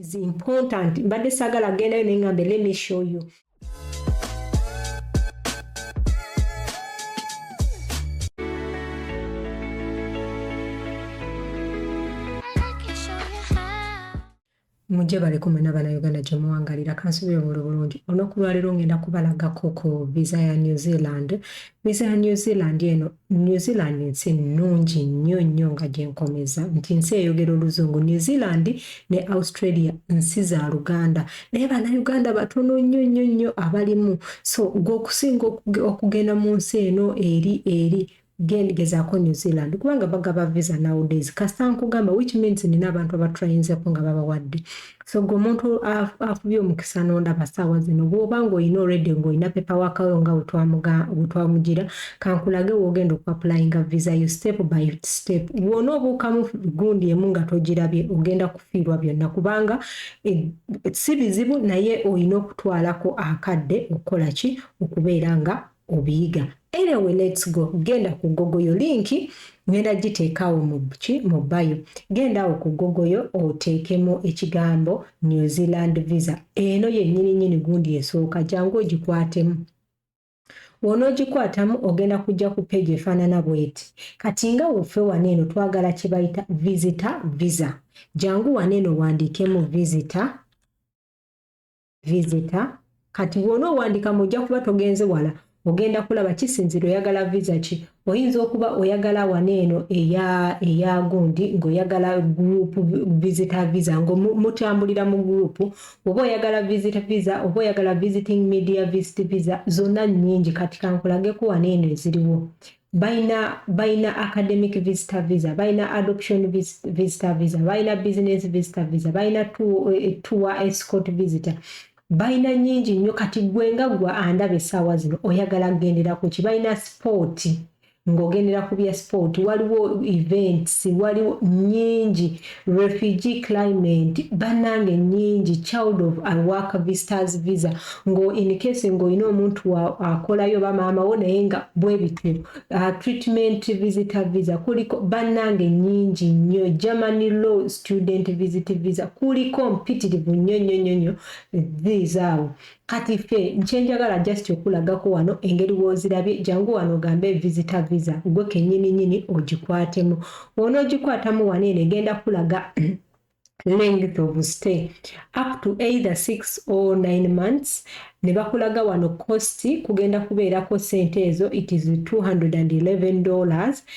is important mbadde sagala gendayo naye ngambe let me show you mujje balekumwe n'abanauganda gye muwangalira kansubire obuli bulungi olunaku lwaleero ngenda kubalagako ku visa ya new zealand visa ya new zealand eno New Zealand nsi nnungi nnyo nnyo nga gye nkomeza nti nsi eyogera oluzungu. New Zealand ne Australia nsi za Luganda naye bannayuganda batono nnyo nnyo nnyo abalimu. So gwe okusinga okugenda mu nsi eno eri eri gezaako New Zealand kubanga bagaba visa nowadays kasita nkugamba which means nina abantu abatrayinzeko nga babawadde. so gwe omuntu afubye omukisa nondaba saawa zino bwoba ngaolina oredi ngaolina pepa wakawo nga wetwamugira kankulage wogenda okuapulayinga visa yo step by step wona obuukamu gundi emu nga togirabye ogenda kufiirwa byonna kubanga e, si bizibu naye olina okutwalako akadde okukola ki okubeera nga obiyiga anyway let's go genda ku gogoyo linki ngenda giteekaawo muki mu bayo genda awo ku gogoyo oteekemu ekigambo new zealand visa eno yennyini nyini gundi esooka jangu ogikwatemu wonoogikwatamu ogenda kujja ku peegi efaanana bweti kati nga woffe wano eno twagala kye bayita visita visa jangu wano eno wandiikemu visita visitor kati bwona owandika mujja kuba togenze wala ogenda kulaba kisinzira oyagala visa ki oyinza okuba oyagala wana eno eya eya gundi ngaoyagala group visita visa nga mutambulira mu group oba oyagala visit visa oba oyagala visiting media visit visa zonna nyingi kati kankulageko wana eno eziriwo balina balina academic visitor visa balina adoption visitor visa balina business visitor visa balina eh, tour escort visitor balina nyingi nnyo kati gwe nga gwa andaba essaawa zino oyagala kugendera ku ki balina sipooti ng'ogendera ku bya sport waliwo events waliwo nyingi Refugee claimant banange nyingi child of a work visitors visa ngo in case ngo ino omuntu wa akolayo ba mama wo naye nga bwebityo uh, treatment visitor visa kuliko banange nyingi nyo German law student visit visa kuliko mpitirivu nyo nyo nyo nyo these are Kati ffe nkyenjagala just okulagako wano engeri wozirabye jangu wano ogambe visitor visa gwe kenyini nyini ogikwatemu bwonogikwatamu wano eno egenda kulaga length of stay up to either six or nine months ne bakulaga wano cost kugenda kubeerako sente ezo it is 211 dollars and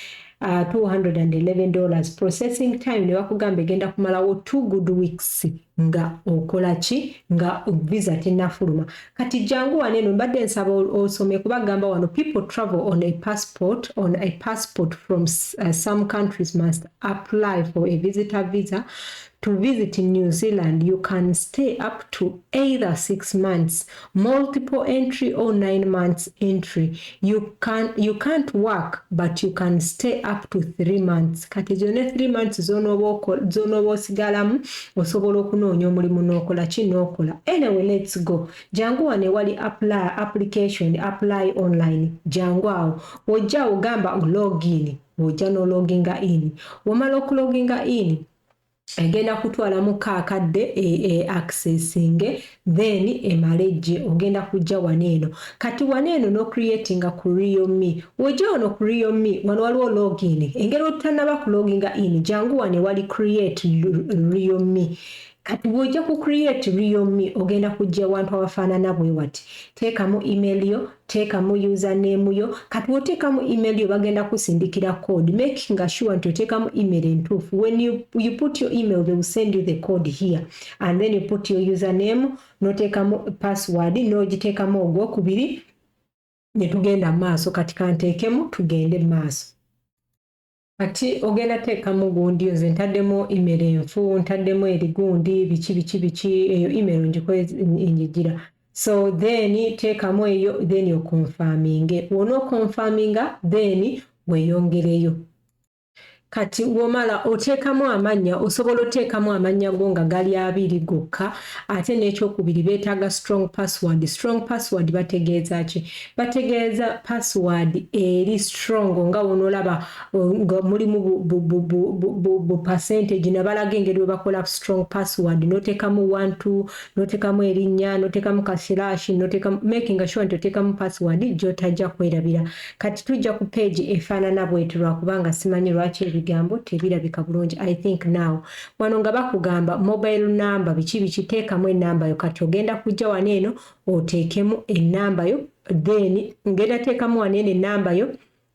uh, ah, 211 dollars processing time ne bakugamba egenda kumalawo two good weeks nga okola ki nga visa tenafuluma kati jangu wano eno mbadde nsaba osome kuba gamba wano people travel on a passport on a passport from uh, some countries must apply for a visitor visa To visit New Zealand, you can stay up to either six months, multiple entry or nine months entry. You, can, you can't work, but you can stay up to three months. Kati zone three months zone zonooba osigalamu osobola okunoonya omulimu n'okola ki n'okola. Anyway, let's go. Jangu wano ewali apply, application, apply online. Jangu awo. Ojja ogamba login. Ojja n'ologinga in. Womala okuloginga in. egenda kutwala mu kaakadde e, e accessinge then emale gye ogenda kujja wano eno kati wano eno no creatinga ku real me wojja wano ku real me wano waliwo login engeri otutanaba ku loginga in jangu wano ewali create real me kati bwojja ku create real me ogenda kujja wantu awafaanana bwe wati teekamu email yo teekamu username yo kati woteekamu email yo bagenda kusindikira code making sure nti oteekamu email entuufu when you, you put your email they will send you the code here and then you put your username noteekamu password nogiteekamu ogwokubiri netugenda maaso kati kanteekemu tugende maaso Kati ogenda teekamu gundi nze ntaddemu email enfu ntaddemu eri gundi biki biki biki eyo email ngiko enjijira so then teekamu eyo then okonfaminge wona okonfaminga then weyongereyo kati womala oteekamu amannya osobola oteekamu amannya go nga gali abiri gokka ate n'ekyokubiri beetaaga strong password strong password bategeeza ki bategeeza password eri strong nga wonolaba nga mulimu bu percentage nabalaga engeri webakola strong password notekamu wantu notekamu erinya notekamu kasilashi notekamu making sure nti otekamu password gyotajja kwerabira kati tujja ku page efaanana bweti lwakubanga simanyi lwaki ebigambo tebirabika bulungi i think now wano nga bakugamba mobile number biki biki tekamu enambayo kati ogenda kujja wano eno oteekemu enamba yo then ngenda teekamu wano eno enamba yo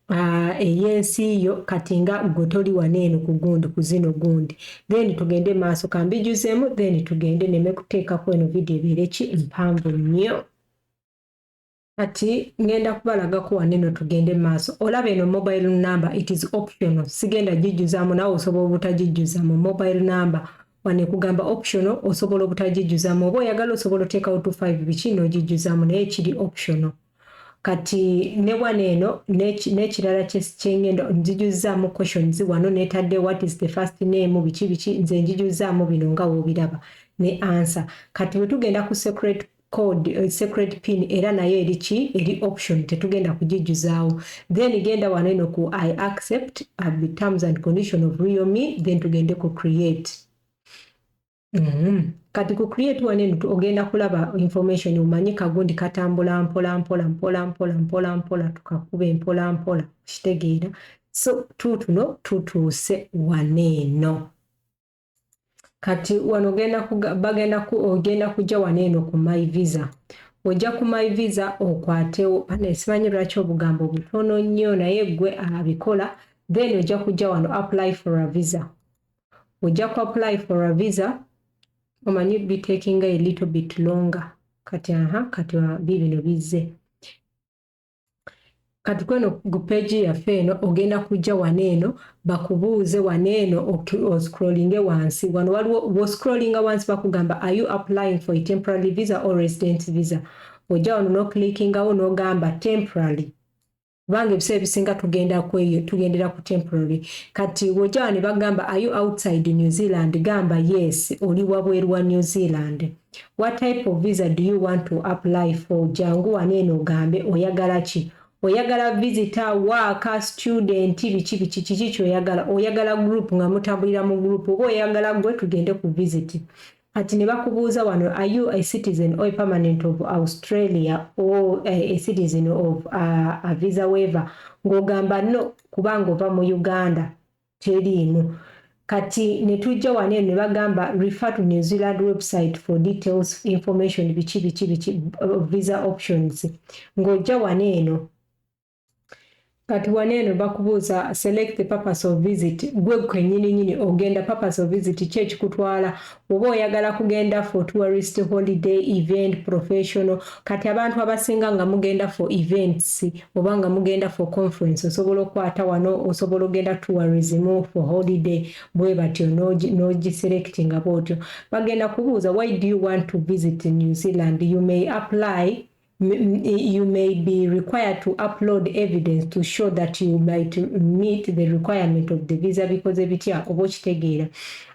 ah, ey'ensi yo kati nga gwe toli wano eno ku gundi ku zino gundi then tugende maaso kambijuzemu then tugende neme kuteekako eno vidiyo ebeere ki mpanvu nnyo kati ngenda kubalagako waneno tugende maaso olaba eno mobile number it is optional sigenda gijjuzamu nawe osobola obutagijjuza mu mobile number wano ekugamba optional osobola obutagijjuzamu oba oyagala osobola oteekawo to five biki n'ogijjuzamu naye kiri optional kati ne wano eno n'ekirala kyengenda nzijuzaamu questions wano netadde what is the first name biki biki nze njijuzaamu bino nga woobiraba ne ansa kati bwe tugenda ku secret code uh, secret pin era nayo eri ki eri option tetugenda kugijjuzaawo then genda wano eno ku i accept at the terms and condition of real me then tugende ku create mm -hmm. kati ku create wano eno ogenda kulaba information omanyi kagundi katambula mpola mpola mpola mpola mpola mpola tukakube mpola mpola okitegeera so tutuno tutuuse wano eno kati wano bagenda ogenda kujja wano eno ku my visa ojja ku my visa okwatewo anesimanyi lwaki obugambo butono nnyo naye gwe abikola then ojja kujja wano apply for a visa ojja ku apply for a visa omanyi bitakinga a little bit longer kati aha kati bibino bizze kati kweno ku peegi yaffe eno ogenda kujja wano eno bakubuuze wano eno oscrollinge wansi wano waliwo woscrollinga wansi bakugamba are you applying for a temporary visa or resident visa ojja wano noclickingawo nogamba temporary kubanga ebiseera ebisinga tugenda kweyo tugendera ku temporary kati wojja wano bagamba are you outside new zealand gamba yes oli wabweru wa new zealand what type of visa do you want to apply for jangu waneeno ogambe oyagala ki oyagala visitor waaka student biki biki kiki kyoyagala oyagala group nga mutambulira mu group oba oyagala gwe tugende ku visit kati ne bakubuuza wano are you a citizen or a permanent of australia or a citizen of uh, a visa waiver ng'ogamba no kubanga ova mu uganda teriimu kati netujja wano eno nebagamba refer to new zealand website for details information biki biki biki uh, visa options ng'ojja wano eno kati wano eno bakubuuza select the purpose of visit gwe kwenyini nyini ogenda purpose of visit ki ekikutwala oba oyagala kugenda for tourist holiday event professional kati abantu abasinga nga mugenda for events oba nga mugenda for conference osobola okwata wano osobola ogenda tourism for holiday bwe batyo nogiselect nga bwotyo bagenda kubuuza why do you want to visit new zealand you may apply you may be required to upload evidence to show that you might meet the requirement of the visa because ebitya oba okitegeera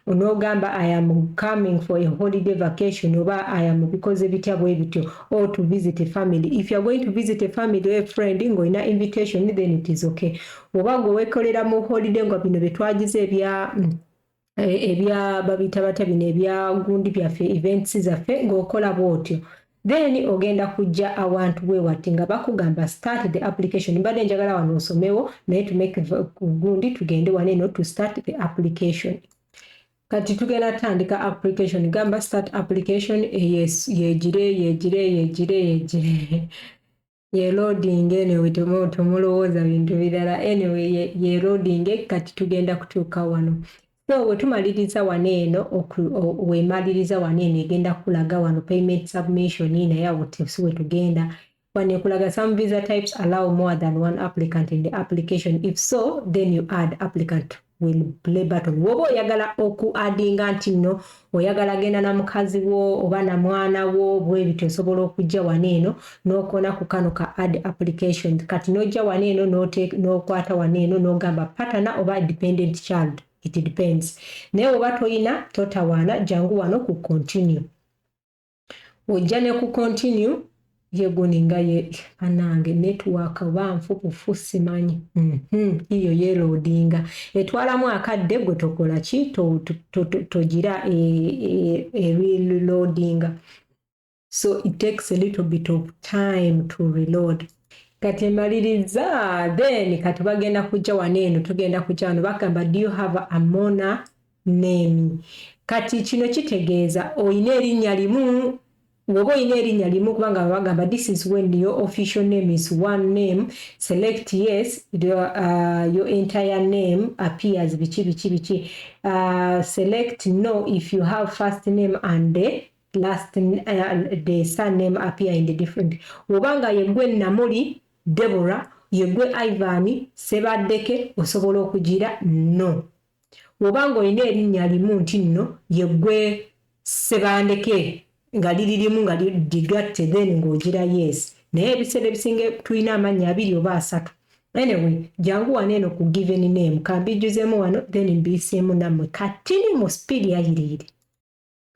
onoogamba i am coming for a holiday vacation oba i am bikoze bitya bwe bityo or to visit a family if youare going to visit a family or a friend ng'olina invitation then it is okay oba gwe wekolera mu holiday nga bino bye twagize ebya mm, eh, ebya babita bata bino ebya gundi byaffe events zaffe ng'okola bwotyo then ogenda kujja awantu bwe wati nga bakugamba start the application mbadde njagala wano osomewo naye to make gundi tugende wano eno to start the application kati tugenda tandika application gamba start application eh, yegire yegire yegire yegire ye loading anyway temulowooza bintu birala anyway ye loading kati tugenda kutuuka wano so wetumaliriza wano eno wemaliriza wano eno egenda kulaga wano payment submission naye awo si wetugenda wano ekulaga some visa types allow more than one applicant in the application if so then you add applicant to will play button woba oyagala oku adinga nti nno oyagala genda na mukazi wo oba na mwana wo bwebiti osobola okujja wano eno nokona ku kano ka add application kati nojja wano eno nokwata wano eno nogamba patana oba dependent child it depends naye woba toyina totawaana jangu wano ku continue ojja ne ku continue ye guni nga ye anange network oba nfupufu simanyi mhm iyo ye loadinga etwalamu akadde gwe tokola ki togira e, e, e reloadinga so it takes a little bit of time to reload kati emaliriza then kati bagenda kujja wano eno tugenda kujja wano bagamba do you have a mona Name. Kati kino kitegeeza olina erinnya limu Woba olina erinnya limu kubanga baba bagamba this is when your official name is one name select yes your, uh, your entire name appears biki biki biki uh, select no if you have first name and the last uh, the surname appear in the different woba nga yegwe namuli Deborah yegwe Ivan Sebaddeke osobola okugira no Woba nga olina erinnya limu nti nno ye ggwe Ssebandeke nga liri limu nga ligatte then nga ogira yes. Naye ebiseera ebisinga tulina amannya abiri oba asatu. Anyway, jangu wano eno ku given name ka mbijjuzeemu wano then mbiyiseemu nammwe katini mu speed ya yiriyiri.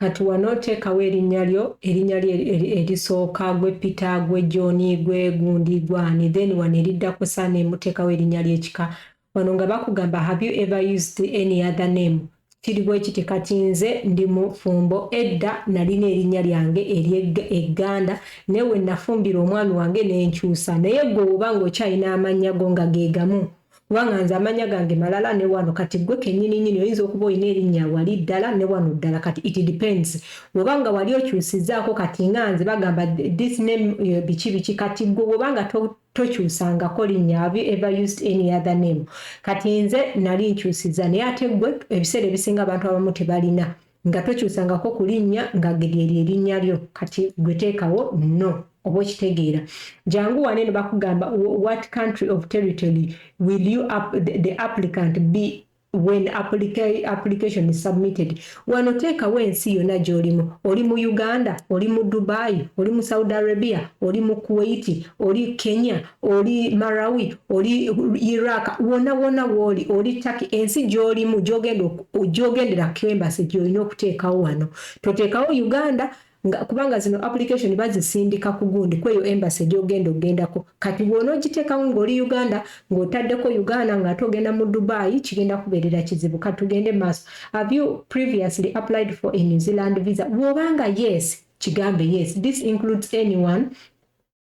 Kati wano teekawo erinnya lyo, erinnya lyo erisooka, gwe Peter, gwe John, gwe gundi, gwe ani, then wano eriddako surname muteekawo erinnya ly'ekika. Wano nga bakugamba have you ever used any other name? Kiri bwe kiti kati nze ndi mufumbo, edda nalina erinnya lyange ery'egganda naye we nafumbirwa omwami wange ne nkyusa. Naye ggwe bw'oba ng'okyalina amannya go nga ge gamu Kubanga nze amanya gange malala ne wano kati gwe kenyini nyini oyinza okuba oyina erinya wali ddala ne wano ddala kati it depends wobanga wali okyusizaako kati nga nze bagamba this name eh, biki biki kati gwe wobanga to, tokyusangako linnya have you ever used any other name kati nze nali nkyusiza naye ate gwe ebiseera ebisinga abantu abamu tebalina nga tokyusangako ku linnya nga gge lye linnya lyo kati gwe teekawo no oba okitegeera jangu wano eno bakugamba what country of territory will you up, the, the applicant be when applica, application is submitted wano teekawo ensi yonna gy'olimu oli mu uganda oli mu dubai oli mu saudi arabia oli mu kuwaiti oli kenya oli Marawi, oli Iraq, wona wona woli, oli Turkey, ensi gyolimu gyogenda gyogendera kembase gyolina okuteekawo wano. Toteekawo Uganda nga kubanga zino application bazisindika kugundi kweyo embassy gyogenda ogendako. Kati bwona ogiteekawo ng'oli Uganda ng'otaddeko Uganda ng'ate ogenda mu Dubai kigenda kubeerera kizibu. Kati tugende maaso. Have you previously applied for a New Zealand visa? Bw'oba nga yes, kigambe yes. This includes anyone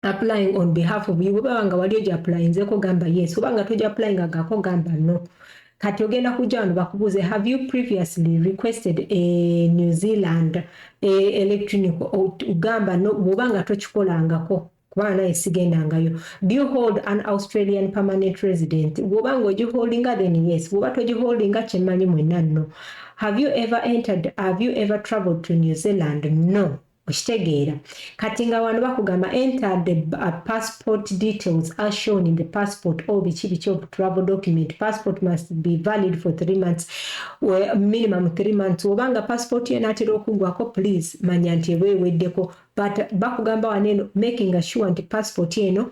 applying on behalf of you bwebaba nga wali oja applyinzeko gamba yes oba nga toja applying agako gamba no kati ogenda kujja wano bakubuuze have you previously requested a eh, new zealand a eh, electronic gamba no bwoba nga tokikolangako kubanga naye sigendangayo do you hold an australian permanent resident bwoba nga ogiholdinga then yes bwoba togiholdinga kyemmanyi mwenna no have you ever entered have you ever traveled to new zealand no okitegeera kati nga wano bakugamba enter the uh, passport details are shown in the passport or biki biki of travel document passport must be valid for three months well, minimum three months obanga passport yena atera okugwako please manya nti eba eweddeko but bakugamba wano eno making sure nti passport eno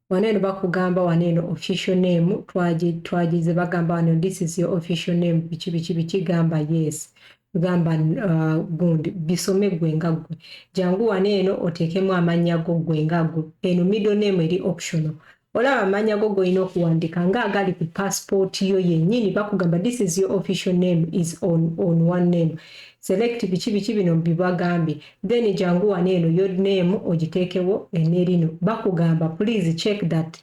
wano eno bakugamba wano eno official name twagize bagamba wano this is your official name biki biki biki gamba yes gamba uh, gundi bisome gwe nga gwe jangu wano eno oteekemu amannya go gwe nga gwe eno middle name eri optional olaba amannya go golina okuwandiika nga agali ku passport yo yennyini bakugamba this is your official name is on, on one name Select biki biki bino mbibagambye then jangu wano eno your name ogiteekewo enerino bakugamba please check that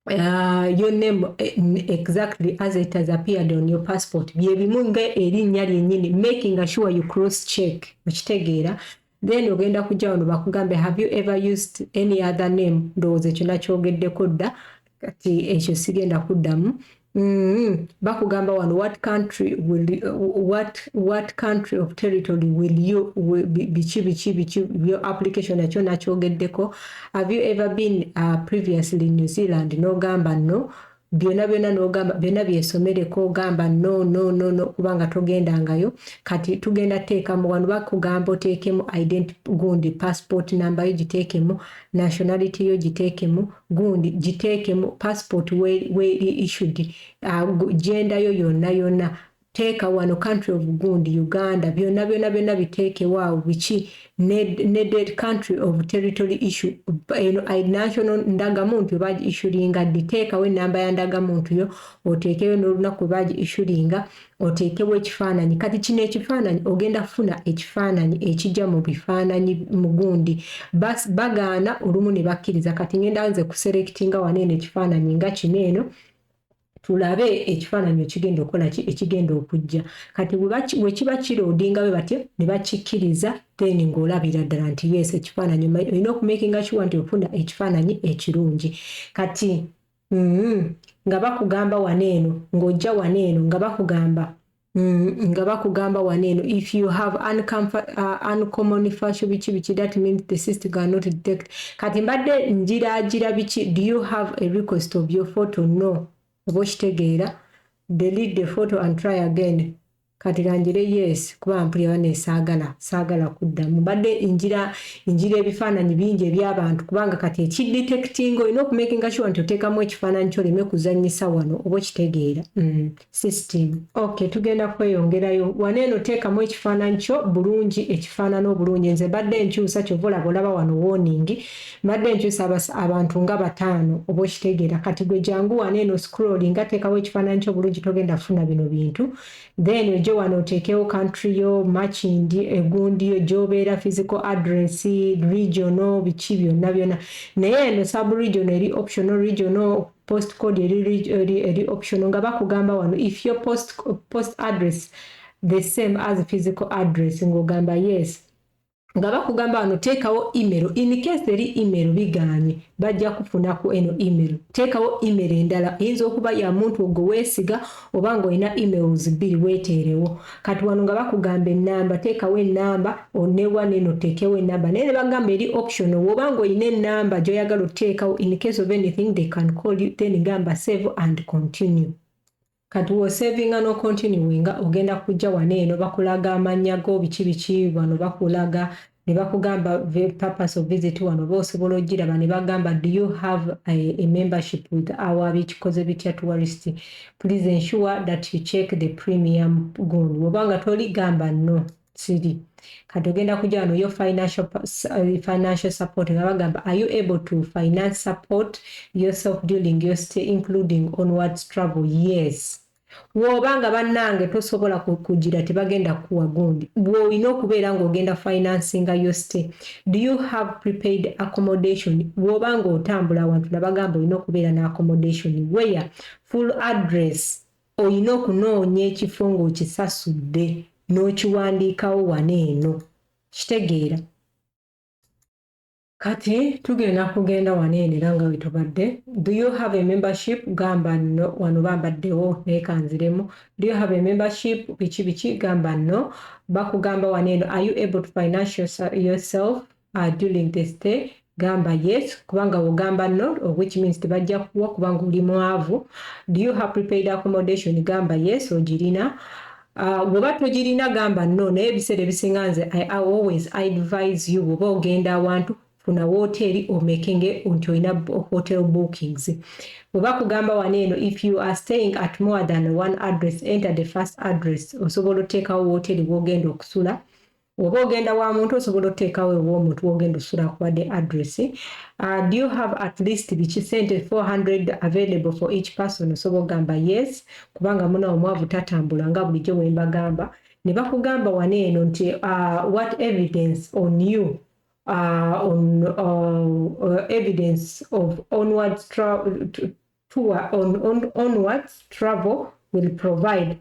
Uh, your name eh, exactly as it has appeared on your passport byebimu nga erinnya lyenyini making sure you cross check okitegeera then ogenda kujja wano bakugambe have you ever used any other name ndowooza ekyo nakyogeddeko dda kati ekyo sigenda kuddamu mm-hmm. bakugamba wano what country will what, what country of territory will you biki biki biki your application nakyo nakyogeddeko have you ever been uh, previously new zealand nogamba no byona byona nogamba byona byesomereko ogamba no no no no kubanga togendangayo kati tugenda teekamu wano bakugamba oteekemu ident gundi passport number yo giteekemu nationality yo giteekemu gundi giteekemu passport weri issued uh, genda yo yonna yonna Teeka wano country of gundi Uganda byona byona byona biteekewo awo biki needed country of territory issue eno national ndagamuntu baji issuringa ddi teekawo enamba ya ndagamuntu yo oteekeyo n'olunaku baji issuringa oteekewo ekifaananyi kati kino ekifaananyi ogenda kufuna ekifaananyi ekijja mu bifaananyi mu gundi bagaana olumu ne bakkiriza kati ngenda nze kuselectinga wano eno ekifaananyi nga kino eno tulabe ekifaananyi ekigenda okukola ki ekigenda okujja kati wekiba kiroodinga bwe batyo ne bakikkiriza then ng'olabira ddala nti yes ekifaananyi olina okumakinga kiwa nti ofuna ekifaananyi ekirungi kati mm, nga bakugamba wano eno ng'ojja wano eno nga bakugamba Mm, nga bakugamba wano eno if you have uh, uncommon fashion biki biki that means the system cannot detect kati mbadde njiragira biki do you have a request of your photo no oba okitegeera delete the photo and try again kati kangire yes kuba mpulira bana esaagala saagala kuddamu mbadde njira njira ebifaananyi bingi ebyabantu kubanga kati ekidetectinga olina okumakinga sure nti oteekamu ekifaananyi kyoleme kuzanyisa wano oba okitegeera mm. system ok tugenda kweyongerayo wano eno teekamu ekifaananyi kyo bulungi ekifaanana obulungi nze mbadde nkyusa kyova olaba olaba wano warning mbadde nkyusa abantu nga bataano oba okitegeera kati gwe jangu wano eno scrolling nga teekawo ekifaananyi kyo bulungi togenda kufuna bino bintu then ojo wano oteekewo country yo matching egundi yo gyobeera physical address regional biki byonna byonna naye eno sub regional eri optional regional post code eri, reg- eri, eri optional nga bakugamba wano if your post, post address the same as physical address ng'ogamba yes nga bakugamba wano teekawo email in case eri email bigaanye bajja kufuna ku eno email teekawo email endala eyinza okuba ya muntu ogwo weesiga oba nga olina emails bbiri weeteerewo kati wano nga bakugamba ennamba teekawo ennamba onewa neno teekewo ennamba naye ne bagamba eri option woba nga olina ennamba gy'oyagala oteekawo in case of anything they can call you then gamba save and continue kati wosavinga no continue nga ogenda kujja wano eno bakulaga amannya go biki biki wano bakulaga ne bakugamba the purpose of visit wano oba osobola ogiraba ne bagamba do you have a, a membership with our bikikoze bitya tourist please ensure that you check the premium gun woba nga toli gamba no siri kati ogenda kujja wano yo financial, uh, financial support nga bagamba are you able to finance support yourself during your stay including onwards travel yes woba nga banange tosobola kugira tebagenda kuwa gundi bwolina okubeera nga ogenda financinga yo stay do you have prepaid accommodation woba nga otambula awantu nabagamba olina okubeera ne accommodation where full address olina okunoonya ekifo ngaokisasudde n'okiwandiikawo wana eno kitegeera kati tugenda kugenda wano eno era nga wetubadde do you have a membership gamba no wano bambaddewo naye kanziremu do you have a membership biki biki gamba no bakugamba wano eno are you able to financial yourself uh, during the stay gamba yes kubanga wogamba no which means tebajja kuwa kubanga oli mwavu do you have prepaid accommodation gamba yes ogirina Ah, bwoba uh, togirina gamba no naye ebiseera ebisinga nze i always advise you bwoba ogenda awantu funa woteeri omekenge nti olina hotel bookings bweba kugamba wano eno if you are staying at more than one address enter the first address osobola oteekawo woteeri wogenda okusula oba ogenda wa muntu osobola oteekawo ew'omuntu wogenda osula akuwadde address uh, do you have at least biki sente 400 available for each person osobola ogamba yes kubanga muna omwavu tatambula nga bulijjo wembagamba ne bakugamba wano eno nti uh, what evidence on you uh, on uh, uh, evidence of onwards tra tour on, on onwards travel will provide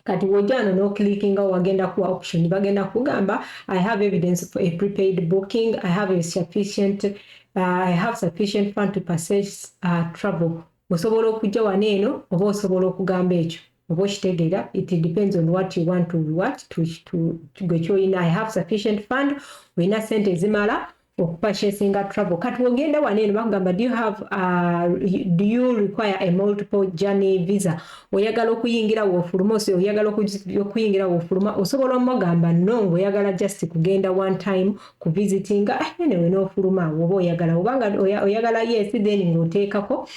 kati wojano no clickinga wagenda kuwa option bagenda kugamba i have evidence for a prepaid booking i have a sufficient uh, i have sufficient fund to purchase uh, travel osobola okujja wano eno oba osobola okugamba ekyo oba okitegeera it depends on what you want to what to, to, to gwe kyoyina i have sufficient fund olina sente ezimala okupurchasinga travel kati wogenda wano eno bakugamba do you have uh, do you require a multiple journey visa oyagala okuyingira wofuluma ose oyagala okuyingira wofuluma osobola omugamba no ngaoyagala just kugenda one time ku visiting ah, anyway nofuluma woba oyagala obanga oyagala yes then ngaoteekako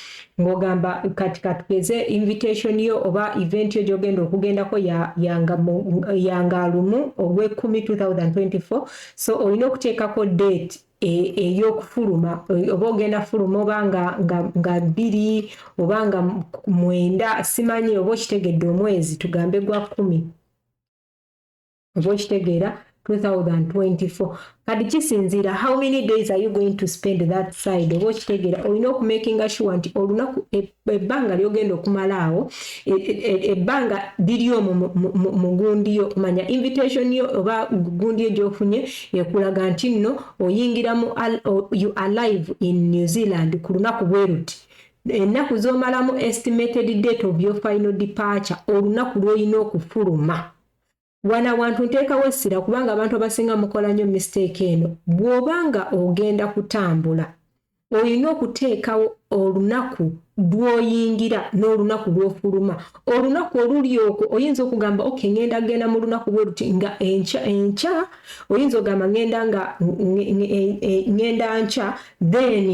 ngogamba kati katugeze invitation yo oba event yo gyogenda okugendako yanga ya ya lumu ogwekumi 2024 so olina okuteekako date e, eyokufuluma e, oba ogenda fuluma oba nga bbiri oba nga mwenda simanyi oba okitegedde omwezi tugambe gwa kumi oba okitegeera 2024 kati kisinziira how many days are you going to spend that side oba okitegeera olina okumakinga sure nti olunaku e, ebbanga lyogenda okumala awo e, e, e, ebbanga liri omwo mu gundi yo manya invitation yo oba gundi yo gyofunye ekulaga nti nno oyingira mu you alive in new zealand ku lunaku bweruti ennaku zomalamu estimated date of your final departure olunaku lwoyina okufuluma Wano awantu nteekawo essira kubanga abantu abasinga mukola nnyo mistake eno. Bw'oba nga ogenda kutambula olina okuteekawo olunaku lw'oyingira n'olunaku lw'ofuluma. Olunaku oluli okwo oyinza okugamba ok ngenda genda mu lunaku bwe luti nga enkya enkya oyinza okugamba ngenda nga e, e, ngenda nkya then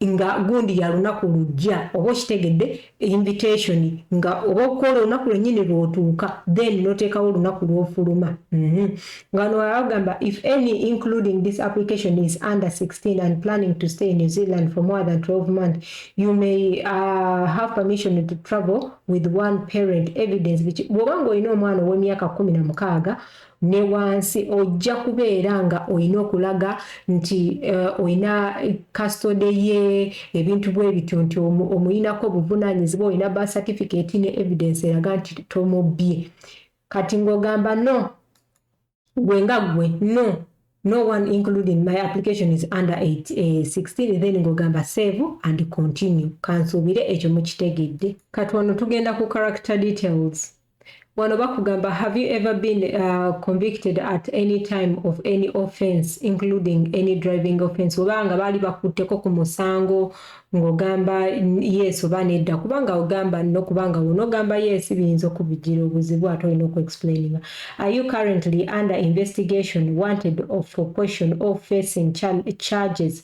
nga gundi ya lunaku lujja oba okitegedde invitation nga oba okukola olunaku lwenyini lwotuuka then notekawo olunaku lwofuluma mhm. nga no agamba if any including this application is under 16 and planning to stay in New Zealand for more than 12 months you may uh, have permission to travel with one parent evidence bwoba nga olina omwana owemyaka kumi na mukaaga ne wansi ojja kubeera nga olina okulaga nti uh, olina kastode ye ebintu bwe bityo nti omuyinako obuvunanyizibwa olina ba certificate ne evidence eraga nti tomubbye kati ng'ogamba no gwe nga gwe no no one including my application is under 8, eh, 16 then ng'ogamba save and continue kansuubire ekyo mukitegedde kati wano tugenda ku character details wano bakugamba have you ever been uh, convicted at any time of any offense including any driving offense oba nga baali bakutteko ku musango ng'ogamba yes oba nedda kubanga ogamba no kubanga wonogamba yes biyinza okubijira obuzibu ate olina okuexplaininga are you currently under investigation wanted for question or facing charges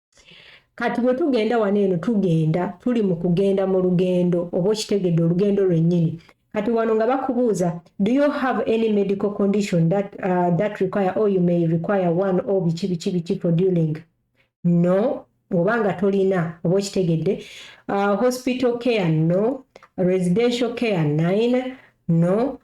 kati bwe tugenda wano eno tugenda tuli mu kugenda mu lugendo oba okitegedde olugendo lwennyini kati wano nga bakubuuza do you have any medical condition that, uh, that require or you may require one or biki biki biki for dealing no oba nga tolina oba okitegedde uh, hospital care no residential care nine no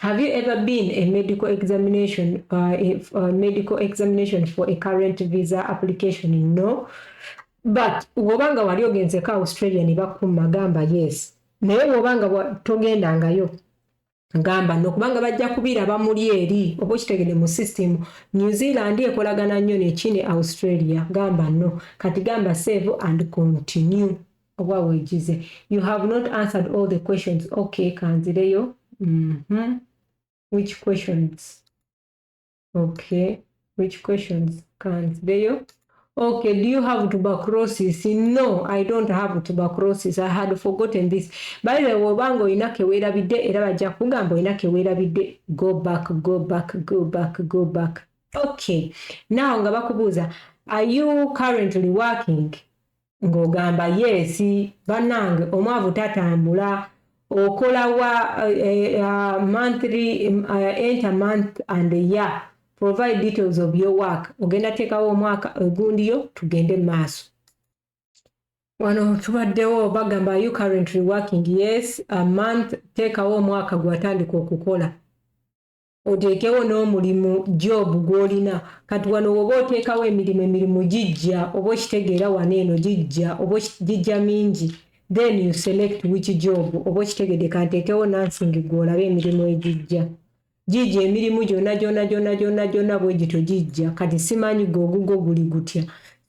Have you ever been a medical examination, uh, if, uh, medical examination for a current visa application? No. But woba nga wali ogenzeko Australia ne bakuma gamba yes. Naye woba nga togenda ngayo ngamba no kubanga bajja kubira bamuli eri obo kitegede mu system New Zealand ekolagana nnyo ne China Australia gamba no kati gamba save and continue oba wejize you have not answered all the questions okay kanzireyo mm -hmm. which questions okay which questions kanzireyo okay do you have tuberculosis no i don't have tuberculosis i had forgotten this by the way obanga olina kewerabidde era bajja kugamba olina kewerabidde go back go back go back go back okay now nga bakubuuza are you currently working ng'ogamba yeesi bannange omwavu tatambula okola wa eh, eh, uh, monthly uh, enter month and a year provide details of your work ogenda teekawo omwaka ogundiyo tugende mu maaso wano tubaddewo bagamba you currently working yes a month teekawo omwaka gwatandika okukola oteekewo n'omulimu job gw'olina kati wano woba oteekawo emirimu emirimu gijja oba okitegeera wano eno gijja oba gijja mingi then you select which job oba okitegede kanteekewo nansingi gwe olabe emirimu egijja gijja emirimu gyona gyona gyona gyona gyona bwe gityo gijja kati simanyi gwe ogugwo guli gutya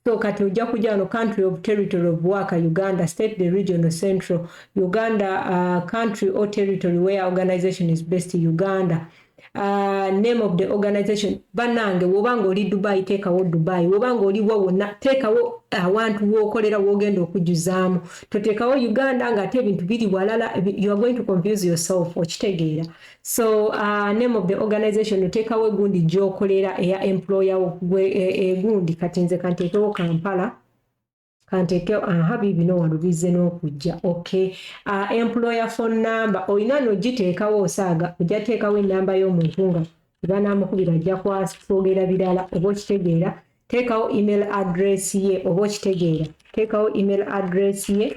so kati ojja kujja wano country of territory of waka uganda state the regional central uganda uh, country or territory where organization is based uganda uh, name of the organization banange wobanga oli dubai teekawo dubai wobanga oli wa wonna teekawo awantu wokolera wogenda okujuzaamu toteekawo uganda ngaate ebintu biri walala you are going to confuse yourself okitegeera so uh, name of the organization oteekawo egundi gyokolera eya employer wo gwe e, egundi e, kati nze kanteekewo kampala kanteekewo aha biibino wano bizze n'okujja okay uh, employer phone number olina nogiteekawo osaaga ojja teekawo enamba y'omuntu nga ebanamukubira ajja kwogera birala oba okitegeera teekawo email address ye oba okitegeera teekawo email address ye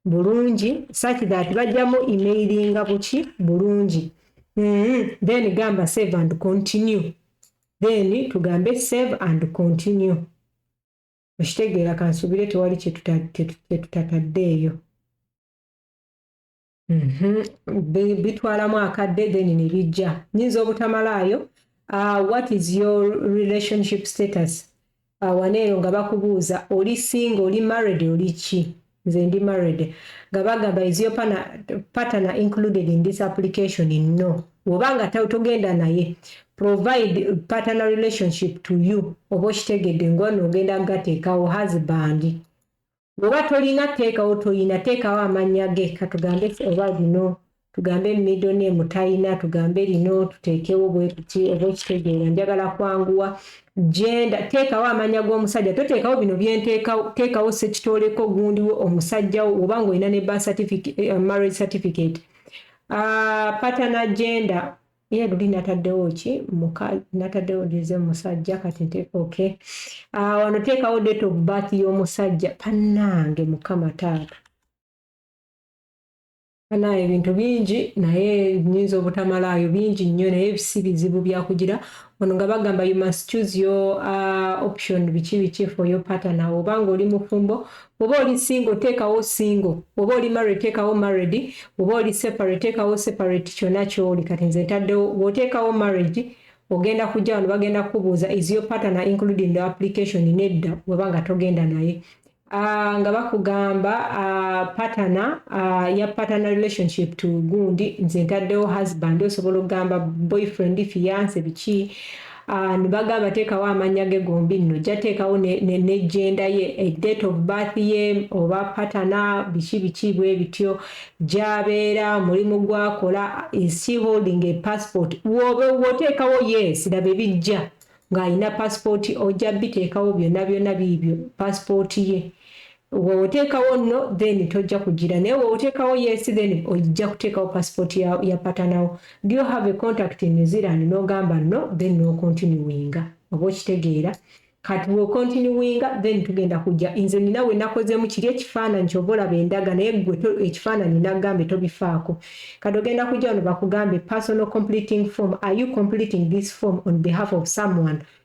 bulungi such that bajjamu emailinga buki bulungi mm -hmm. then gamba save and continue then tugambe save and continue okitegeera kansuubire tewali kyetutataddeeyo mhm. bitwalamu akadde then nebijja nyinza obutamalaayo uh, what is your relationship status awana eyo nga bakubuuza oli singa oli married oli ki nze ndi married nga bagamba is your partner included in this application no woba nga togenda naye provide partner relationship to you oba okitegedde ngono ogenda gateekawo husband bwoba tolina teekawo toyina teekawo amannya ge katugambe oba lino tugambe middle name talina tugambe lino tuteekewo bwekuti oba okitegeera njagala kwanguwa genda teekawo amannya g'omusajja toteekawo bino byenteekawo teekawo sekitooleko gundiwo omusajjawo oba ngaolina ne eh, marriage certificate uh, ah, patana genda ye luli nataddewo ki muka nataddewo dize musajja kati nte okay uh, wano teekawo date of birth y'omusajja panange mukama taata ana ebintu bingi naye nyinza obutamalaayo bingi nnyo naye si bizibu byakugira ono nga bagamba you must choose your uh, option biki biki for your partner obanga oli mufumbo Bw'oba oli single teekawo single, bw'oba oli married teekawo married, bw'oba oli separate teekawo separate kyonna ky'oli kati nze ntaddewo bw'oteekawo marriage ogenda kujja wano bagenda kukubuuza is your partner included in the application nedda bw'oba nga togenda naye uh, nga bakugamba uh, partner uh, ya partner relationship to gundi nze ntaddewo husband osobola okugamba boyfriend fiance biki Ah, bagamba ateekawo amannya ge gombi nno ojja teekawo nejenda ye eh, date of birth ye oba patana biki biki bwe bityo gyabeera omulimu gwakola isi holding a passport woteekawo yes laba ebijja ng'alina passport ojja biteekawo byonna byonna biibyo passport ye Wewotekawo no then tojja kujira naye wewotekawo yes then ojja kutekawo passport ya, ya patanawo do you have a contact in New Zealand nogamba no then no continuinga oba okitegeera kati we continuinga then tugenda kujja inze nina we nakozemu kiri ekifaananyi kyova olaba endaga naye gwe ekifaananyi nagambe tobifaako kati ogenda kujja wano bakugambe personal completing form are you completing this form on behalf of someone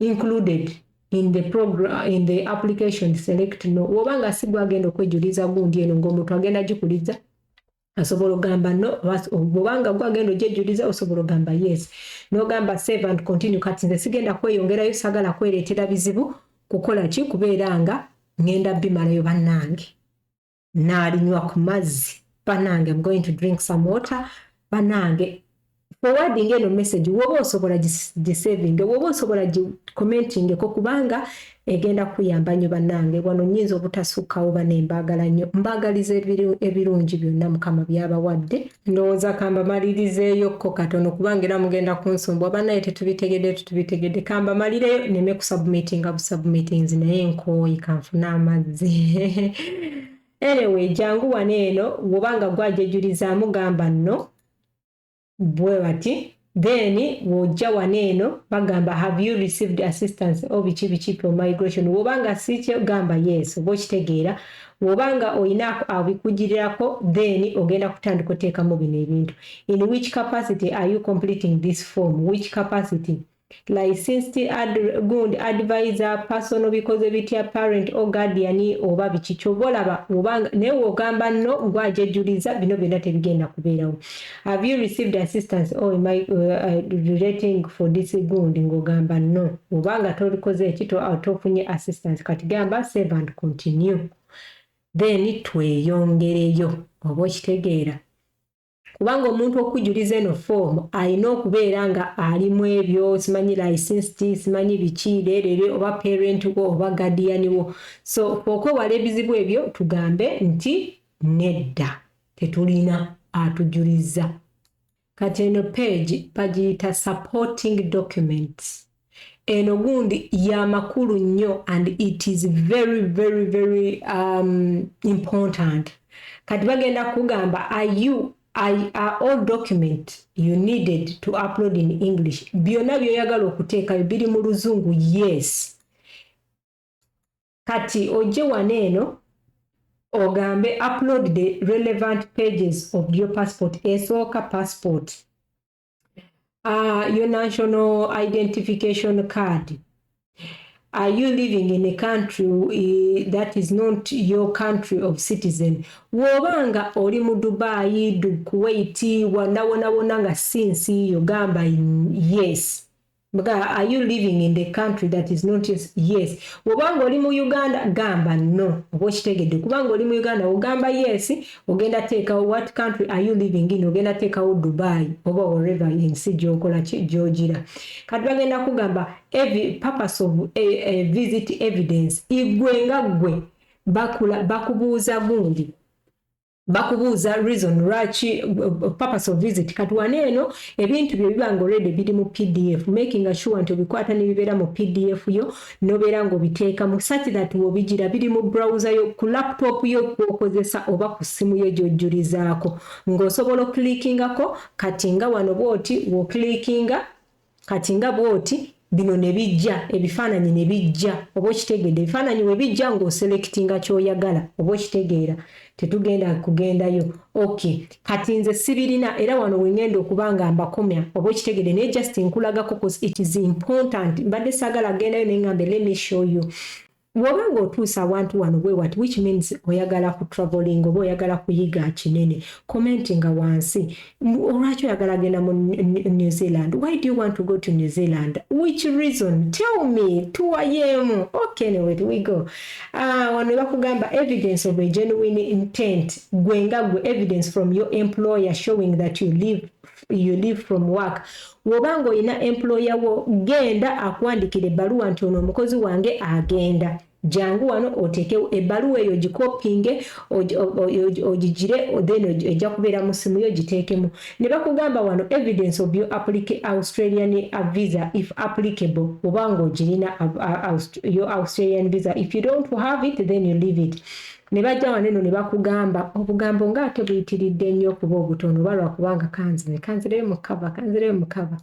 included in the program in the application select no woba nga si gwagenda okwejuliza gundi eno ngaomuntu agenda gikuliza asobola ogamba no obanga gwagenda ogyejuliza osobola ogamba yes nogamba save and continue kati nze sigenda kweyongerayo sagala kwereetera bizibu kukola ki kubeera nga ngenda bimalayo bannange n'alinywa ku mazzi banange am going to drink some water banange forwarding eno message woba osobola gisaving woba osobola gicommentingeko kubanga egenda kuyamba nnyo banange wano nyinza obutasukkawo banembaagala nnyo mbaagaliza ebirungi byonna mukama byabawadde Ndowoza kambamalirizeeyo ko katono kubanga era mugenda kunsumbwa banaye tetubitegede tutubitegede kambamalireyo neme kusubmitinga busubmitinzi naye nkooye kanfune amazzi anyway jangu wano eno wobanga gwajejulizamu gamba no bwe bati Then wojja wano eno bagamba have you received assistance o oh, biki biki pro migration woba nga sikyo gamba yes oba okitegeera woba nga olina abikugirirako then ogenda kutandika oteekamu bino ebintu in which capacity are you completing this form which capacity Licensed ad, gundi advisor, personal bikoze bitya parent or guardian oba biki kyoba olaba obanga naye wogamba no gwe ajejuliza bino byonna tebigenda kubeerawo have you received assistance or am I uh, uh, relating for this gundi ngogamba no obanga tolikoze eki uh, tofunye assistance kati gamba save and continue then tweyongereyo oba okitegeera kubanga omuntu okujuliza eno foomu alina okubeera nga alimu ebyo simanyi licensi simanyi biki leerere oba parent wo oba gadiyani wo so okwewala ebizibu ebyo tugambe nti nedda tetulina atujuliza kati eno page bagiyita supporting documents eno gundi ya makulu nnyo and it is very very very um, important kati bagenda kugamba are you I, are all document you needed to upload in english byonna byoyagala okuteekayo biri mu luzungu yes kati ojje wano eno ogambe upload the relevant pages of your passport esooka passport uh, your national identification card are you living in a country uh, that is not your country of citizen woba nga oli mu dubai du kuwait wanawonawona nga sinsi yo gamba yes Mga are you living in the country that is not yours? Yes. Wobanga oli mu Uganda gamba no. Oba okitegedde kubanga oli mu Uganda ogamba yes, ogenda teekawo what country are you living in? Ogenda teekawo Dubai oba wherever ensi gy'okola gy'ogira. Kati bagenda kugamba every purpose of a, a visit evidence igwe nga gwe bakula bakubuuza gundi bakubuuza reason lwaki purpose of visit kati wano eno ebintu bye biba nga already biri mu pdf making sure nti obikwata ne bibeera mu pdf yo nobeera nga obiteekamu such that wobigira biri mu browser yo ku laptop yo kwokozesa oba ku ssimu yo gyojjulizaako ng'osobola oklikingako kati nga wano bwoti woklikinga Kati nga bwoti bino ne bijja ebifaananyi ne bijja oba okitegeedde ebifaananyi we bijja ng'oselectinga ky'oyagala oba okitegeera tetugenda kugendayo ok kati nze sibirina era wano we ngenda okuba nga mbakomya oba okitegeedde naye just nkulagako cos it is important mbadde saagala kugendayo ne ngambe let me show you Woba nga otuuse awantu wano bwewati which means oyagala ku traveling oba oyagala kuyiga kinene commentinga wansi olwaki oyagala genda mu New Zealand why do you want to go to New Zealand which reason tell me tuwayemu okay anyway we go uh, wano nebakugamba evidence of a genuine intent gwe nga gwe evidence from your employer showing that you live you leave from work woba nga olina employer wo genda akuwandikira ebbaluwa nti ono omukozi wange agenda jangu wano oteekewo ebbaluwa eyo ogikopinge ogigire then ejja kubeera mu ssimu yo giteekemu ne bakugamba wano evidence of your australian uh, visa if applicable oba nga ogirina uh, uh, your australian visa if you don't have it then you leave it ne bajja wano eno ne bakugamba obugambo nga ate buyitiridde nnyo okuba obutono oba lwakubanga kanzine kanzireyo mukava kanzireyo mukava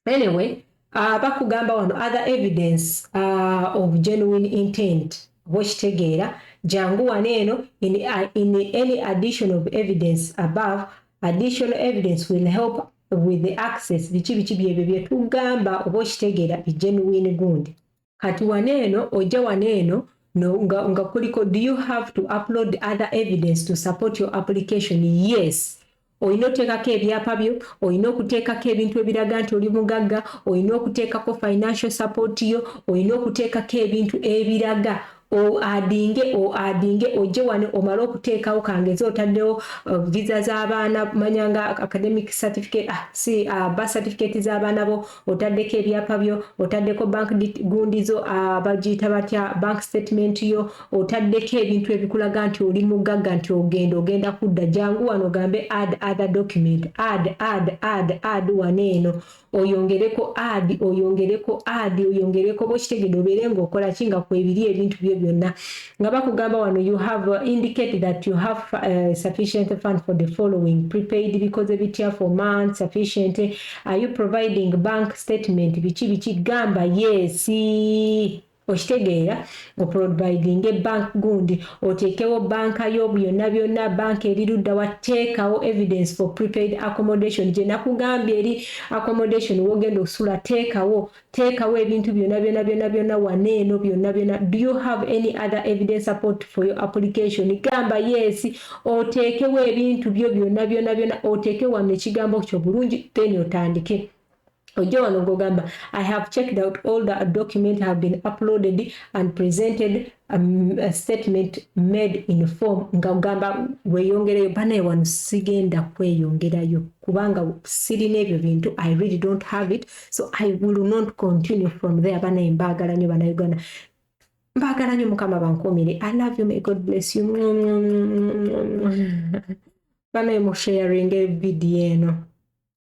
anyway uh, bakugamba wano other evidence uh, of genuine intent oba okitegeera jangu wano eno in, uh, in any addition of evidence above additional evidence will help with the access biki biki byebyo byetugamba oba okitegeera egenuine gundi kati wano eno ojja wano eno no, nga, nga kuliko do you have to upload other evidence to support your application yes olina oteekako ebyapa byo olina okuteekako ebintu ebiraga nti oli mugagga olina okuteekako financial support yo olina okuteekako ebintu ebiraga O adinge o adinge ojje wano omale okuteekawo kangeze otaddewo uh, visa z'abaana manya nga academic certificate ah, si uh, ba certificate z'abaana bo otaddeko ebyapa byo otaddeko bank gundi zo uh, bagiyita batya bank statement yo otaddeko ebintu ebikulaga nti oli mugagga nti ogenda ogenda kudda jangu wano ogambe add other document add add add add wano eno oyongereko adi oyongereko adi oyongereko bokitegede obeere ngaokola ki nga kwebiri ebintu byo byonna nga bakugamba wano you have uh, indicated that you have uh, sufficient fund for the following prepaid bikoze bitya for month sufficient are you providing bank statement biki biki gamba yesi Okitegeera, oprovidinge bank gundi, oteekewo bank yo, byonna byonna, bank eri luddawa, teekawo evidence for prepaid accommodation, gye nakugambye eri accommodation wogenda okusula, teekawo, teekawo ebintu byonna byonna byonna byonna wano eno, byonna byonna, do you have any other evidence support for your application, gamba yes, oteekewo ebintu byo byonna byonna byonna, oteeke wano ekigambo kyo bulungi, then otandike. ojja wano ngogamba i have checked out all the document have been uploaded and presented um, a statement made in form nga ogamba weyongereyo banaye wano sigenda kweyongerayo kubanga sirina ebyo bintu i really don't have it so i will not continue from there banaye mbaagala nyo banauganda mbaagala nyo mukama bankuumire i love you may god bless you banaye musharinge vidiyo eno